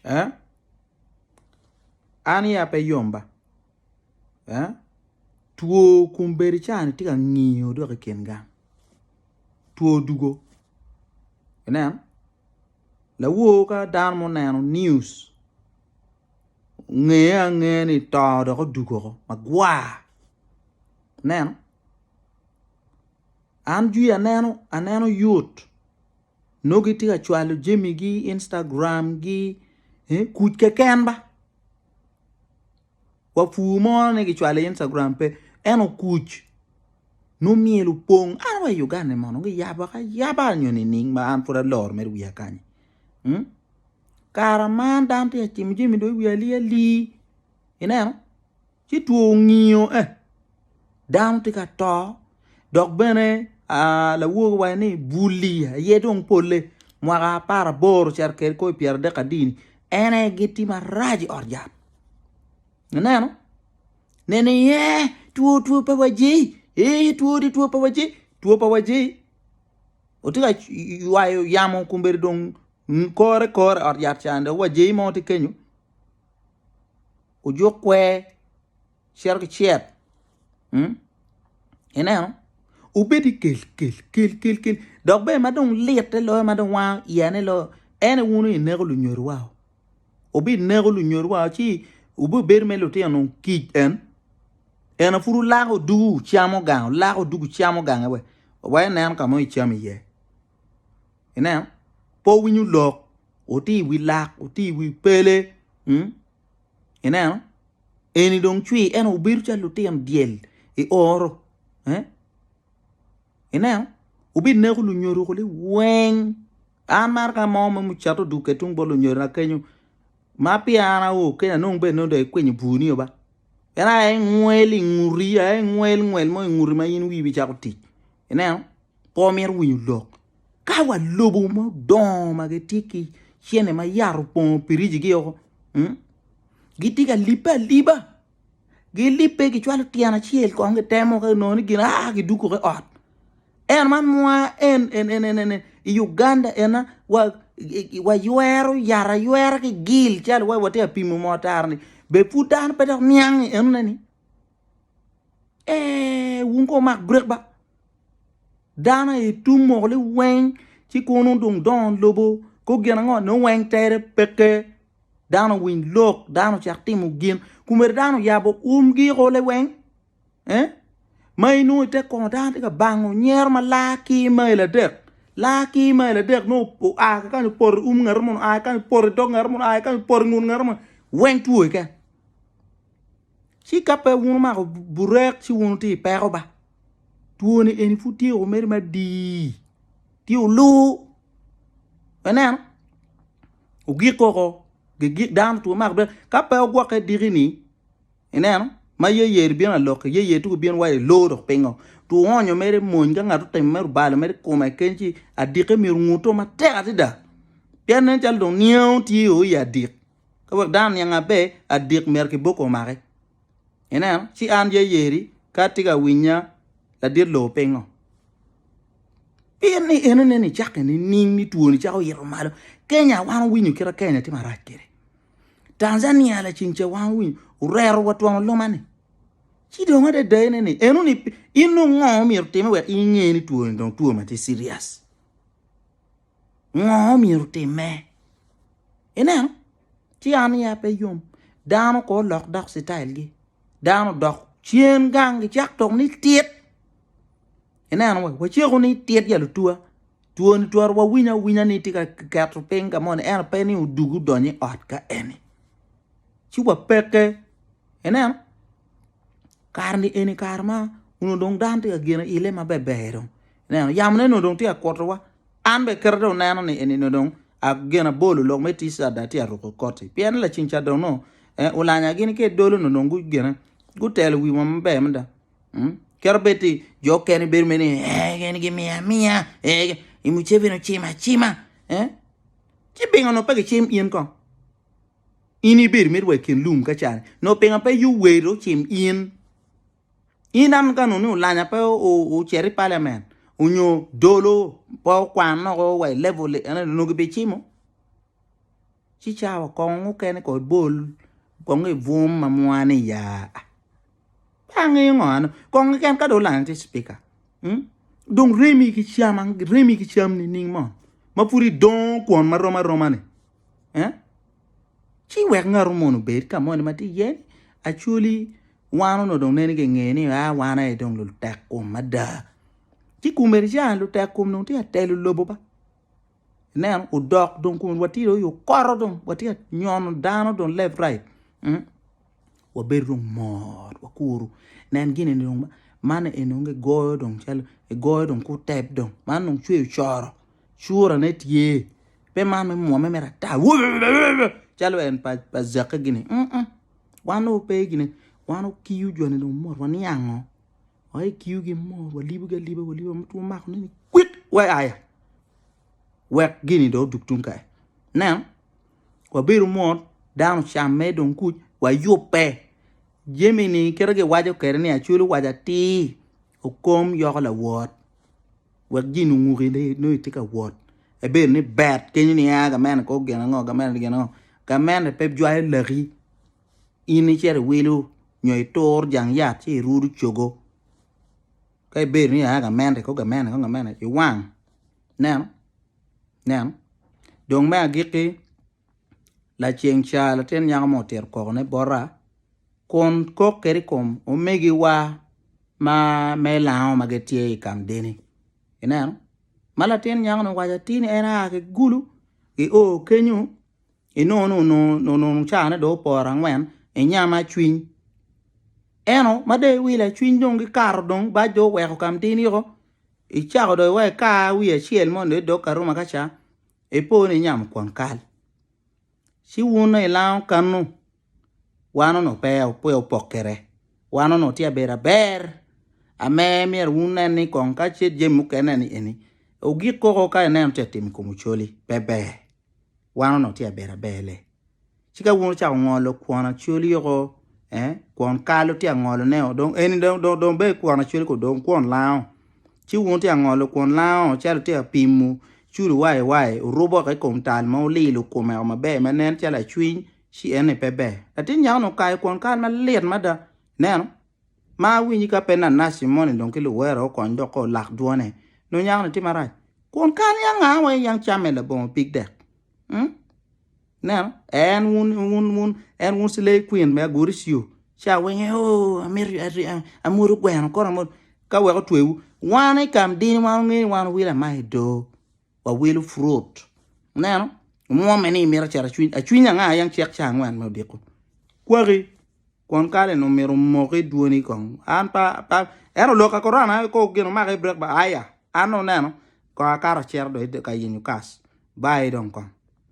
eh? An iya pe yom ba eh? Two kun bedo cani tye ka ngiyo dok i kin gang two dugo ineno lawor ka dano ma oneno news ngeye ange ni to dok odugo woko magwar ineno an jwi aneno aneno yot nongo gitye ka cwalo jamigi i Instagram gi kuc keken ba wa pur mo ni kicwalo i Instagram pe ento kuc nongo myel opong an wa i Uganda ni mono giyabo ka yaba nyo nining ma an pud aloro mere wiya kany kara man dano tye ka cimo jami dong wiye alii alii ineno ci two ongiyo eh dano tye ka to dok bene lawoki waco ni buli aye dong pole mwaka apar aboro cito kwede ki pyera adek adi ni en aye gitye marac i ot yat ineno nene iye eh two two pa wa jei eh two ni two pa wa jei two pa wa jei watye ka ywayo yamo kombeddi dong kore kore i ot yat ca dong wa jei mo tye kenyo. ojuk kwer cito ki cet ineno obedi kel kel kel kel kel dok bene ma dong litte loyo ma dong wango iya ne loyo en aye wun ineko lunyodo wa o wubi neko lunyodo wa o ci wubi bedo me lutino dong kic en ena pud wulako oduu wucamo gang wulako oduu wucamo gang aye wek wa inen ka mo icamo iye ineno pe wowinyo lok wuti i wi lak wuti i wi pele. Ineno? Eni dong cwir, ento wubedo calo lutino dyel i oro. Ineno? Wubineko lunyodo kuli weng. An maro ka mo me mucato duke tung bot lunyodona kenyo, ma pi an ao keni anong bene dong ikwinyo bur nio ba. Pien aye ingwel i nguti, aye ingwel ngwel mo i nguti ma in wii bicako tic. Ineno? Pe wumito winyo lok. Ka wa lobo ma odongo ma gitye ki cene ma yat opongo piriji gi oko, hmm? gitye ka lipe aliba. Gilipe gicwalo tyen acel kong gitemo ka nongo ni gin aa giduko ki ot. En man mwa en en en en, en, en i Uganda ena wa wa ywero yat aywera ki gil calo wa watye apimo mo tara ni be pud dano pe dok niangi enone ni Ee, wun ko wumak break ba. Dano aye tum moko li weng ci kono dong dongo lobo ko gin ango nongo weng tere peke. Dano winy lok, dano cak timo gin. Kumere dano yabo umgi ko le weng. Eh? Ma inongo ite kono dano tye ka bango nyero ma laa ki mail adek. Laa ki mail adek nongo oa ki kany opoto i um ngati munu, oa ki kany opoto i dog ngati munu, oa ki kany opoto i ngut ngati munu. Weng two keken. Ci ka pe wun wumako burek ci wun wutye i peko ba. Twoni eni pud tye woko mere madii, tye oluu. Ineno, ogik woko, gigik dano two mako burek. Ka pe wugwokke diki-ni, ineno, ma yeyeri bino aloki, yeyeri tung ibino wa iloo dok pingo. Two onyo mere mony ka ngat otimo mere obalo mere i kome keken ci adikke myero onguto matek adada pien nen calo dong niango tye o i adik. Ka wek dano niang maber, adik myero kiboko omake. Ineno? Ci an ye yeri ka atye ka winya ladit loo pingo? Pien ni enene ni cake nining ni twoni cako yito malo. Kenya wan owinyo kita Kenya tye marac kede. Tanzania laceng ce wan owinyo orero wa twongo luma ni. Ci dong adada ene ni eno ni in nongo myero time wek inge ni twoni dong two matye serious. Ngo myero timme? Ineno? Ci an ya pe yom. Dano ko lok dok style gi. Dano dok cen gang gi cak tok ni tit. Ineno we waceko ni tit ya lutua. Tuo ni twero wa winya winya ni tika keto ping ka moni eno pe ni udugu donyi ot ka eni. Ci wa peke. Ineno? Kar ni eni kar ma uno dong dano tika gino ile ma beber dong. Ineno, yamone onongo dong tye ka kutowa. An bene kite dong neno ni eni onongo dong gin abolo lok me tic ada tye ka ruko koti. Pien laceng ca dong onongo eh, ulanya gini ki i dolo onongo dong gu gine gutelo wiwa maber mada. Mm. Kite bed ti jo okene bedo mere ni eh, gin gimiya amiya, eh, gi- i Muceveni ocima acima. Eh? Ci pingo onongo pe gicim in kong? In ibedo mere wa i kin lum ka cani. Onongo pingo pe Yoweri ocim in? In an gano ni olanya pe ocer i parliament onyo dolo pe okwan loko wa i level ene onongo gibicimo ci cawa kong mukene kong ibol kong ibwom ma mwa ni ya pe angeyo ngo ano kong keken ka dong olanya tye speaker dong remi ki cam remi ki cam nining mo ma pud idongo kwon ma rom aroma ni ci wek ngato mono obed ka moni ma tye iye ni actually Wan onongo dong nen kinge ni a wan aye dong lutek kom mada. Ci kumeni ca lutek kom dong tye ka telo lobo ba. Ineno odok dong kumeni watye dong i okoro dong watye ka nyono dano dong left right. Mm. Wabedo dong mor wakuru. Nen gini ni dong man eni dong gigoyo dong calo gigoyo dong ku tep dong. Man dong cweyo coro. Curane tye. Pe man me mwomme mere ata. Calo en pa pa zakke gini. Mm. mm. Wan dong wape gine, wan wakiyo joni dong mot waniango wai kiyogi mot walibogi aliba waliba ma two mako neni kwit wai aya wek gini dong odug tung kany ineno wabedo mot dano ocamme dong kuc wayubbe jami-ni kit ma giwaco kwede ni acwalo waco atir okom yoko lawot. Wek gin onguki ni nongo itye ka wot ebedo ni bet kenyo ni aa gamente kor gin ango gamente gin ango gamente pe jwayo laki in icito iwilo nyo itur jang yat ci irudo cogo ka ibedo ni aa gamente kor gamente kong gamente iwang ineno ineno dong me agikki Laceng ca latin nyako mo otito koko ne bota kun kok kede i kom omegi wa ma me lango ma gitye i kamdeni ineno ma latin nyako ni owaco atir ni en a ki gulu ki o kenyo inongo ni onongo onongo ca ne dong oporo angwen inyama cwiny eno ma dong iwilo cwiny dong gikato dong bac dong oweko kamdeni o icako dong iweko ika wiye acel moni dong idok ka ruma ka ca Ipo ni inyamo kwon kal, ci wun onongo ilango kannu, wan onongo pe opokkere, wan onongo tye abedo aber. Ame myero wun wunen ni kong ka ce jami mukene ni eni ogik koko ka ineno tye ka timo i kom ocoli, pe ber. Wan onongo tye ka bedo aber le. Ci ka wun wucako ngolo kwon acwali yoko, eh, kwon kal wutye ka ngoloneo, dong eni dong, dong, dong bedo kwon acwali ko dong kwon lango. Ci wun wutye ka ngolo kwon lango calo wutye ka pimo culu waiwai, wurubo woko i kom tal ma wulilo komeo maber ma nen calo acwiny, ci eni pe ber. Latin nyako-ni okayo kwon kal malit mada. Ineno? Ma awinyi ka pe Nanaci moni dong ki luwero okony dok ko lak dwone, nongo nyako-ni tye marac. Kwon kal niang aa wa i niang camme labongo pig dek? Um? Ineno? En wun, wun, wun, en wun slave queen me aguri siyo. Ci awinyo, oh, amito, ari- a- amwodo gweno, kono amwodo. Ka wek otwewu. Wan i kamdini, wan onge ni wan owilo ama i do. Wawilo fruit. Ineno? Omwomme ni imito acito acwiny. Acwiny anga ayang cek ca angwen me odiko. Kwaki. Kwon kale ni omito omoki dwoni kong. An pa, pa, en oloka korona, ko gin omaka i break ba, aya. An oneno, kong akato acito do i de- ka yenyo kas. Bayi dong kong.